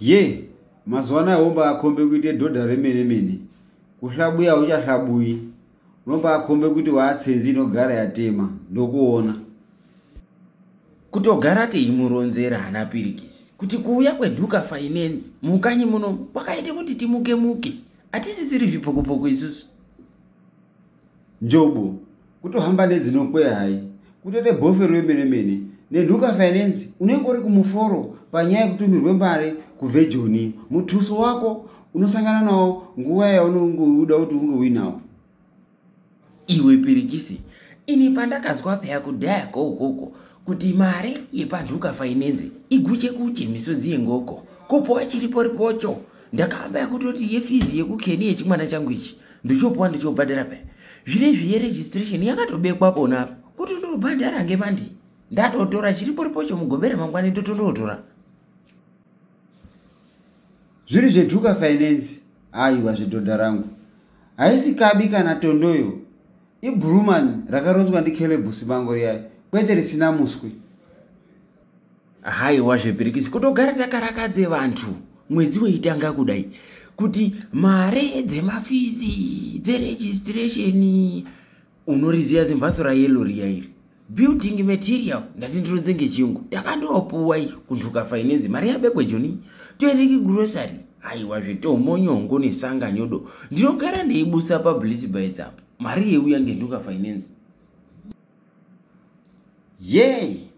ye mazuva anaya wombaakombe kuite dhodha remene mene kuhlabuya uchahlabuyi unombaakombe kuti waatsenzi inogara yatema ndokuona kutogara teimuronzera hana pirikisi kuti kuuya kwenhuka finance mukanyi muno kwakaite kuti timuke muke hatisisiri zvipokopoko isusu njobo kutohamba nedzinokwe hai kutode bofe rwemene mene nenhuka finance unenge uri kumuforo panyaya yekutumirwe mari kuvejoni mutuso wako unosangana nawo nguva yaunenge uda kuti unge uinawo iwe pirikisi ini pandakazwa peya kudhaya ko ukoko kuti mari yepanhuka finance iguche kuche misodzi yengoko kupowa chiriporipocho ndakamba yakutoti yefizi yekukeni yechimwana changu ichi ndichopuwa ndichobhadhara paya zvine zviye registration yakatobekwa pona apa kuti ndobhadhara ngemandi ndatotora chiriporipocho mugobera mangwani ndotondotora zviri zveduka finance aiwa zvedhodha rangu haisi kabi kana tondoyo ibruman rakaronzwa ndicalebus bango riyayo kwete risina muswi haiwa zvebhirikisi kutogara takarakadze vantu mwedzi weitanga kudai kuti mare dzemafizi dzeregistration unoriziva zimhatso rayelo riya iri building material ndati ndironze ngechiyungu takandopuwa iyi kuntuka finance mari yabekwa joni toende kigrocery aiwa zvitomo nyongo nesanga nyodo ndinogara ndeibusa publicity bites apo mari yeuya ngentuka finance yei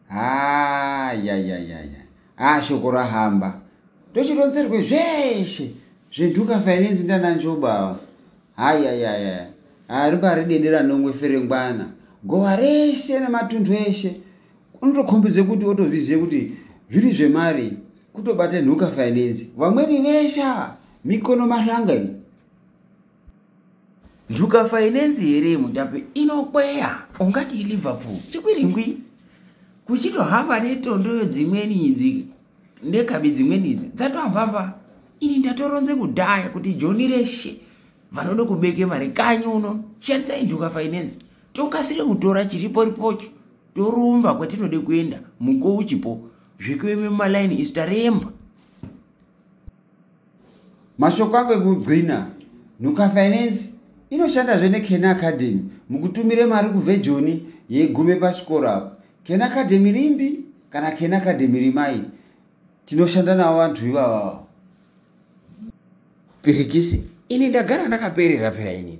haa yayayaya haa shoko rahamba tochironzerwe zveshe zvenhuka finance ndananjobawa hayayaya hariba ridedera nomwe ferengwana gowa reshe nematundu eshe unotokhombidze kuti otozvizive kuti zviri zvemari kutobate nhuka finance vamweni veshe ava mikono mahlanga iyi njuka fainenzi here mutape inokweya ungati liverpool chikwiringwi kuchitohamba netondoyo dzimweni idzi nekabi dzimweni idzi dzatoambamba ini ndatoronze kudhaya kuti joni reshe vanoda kubeke mari kanyi uno shandisai njuka fainenzi tokasire kutora chiripo ripocho torumba kwatinode kuenda muko uchipo zvekuve mumalaini isu taremba Mashoko angu ekugcina, Nhuka Finance inoshandazve neKen Academy mukutumira mari kuvhejoni yegume pachikoro apo. Ken Academy rimbi kana Ken Academy rimai, tinoshanda navo vanhu ivavavo. Pirikisi, ini ndagara ndakaperera peya inini.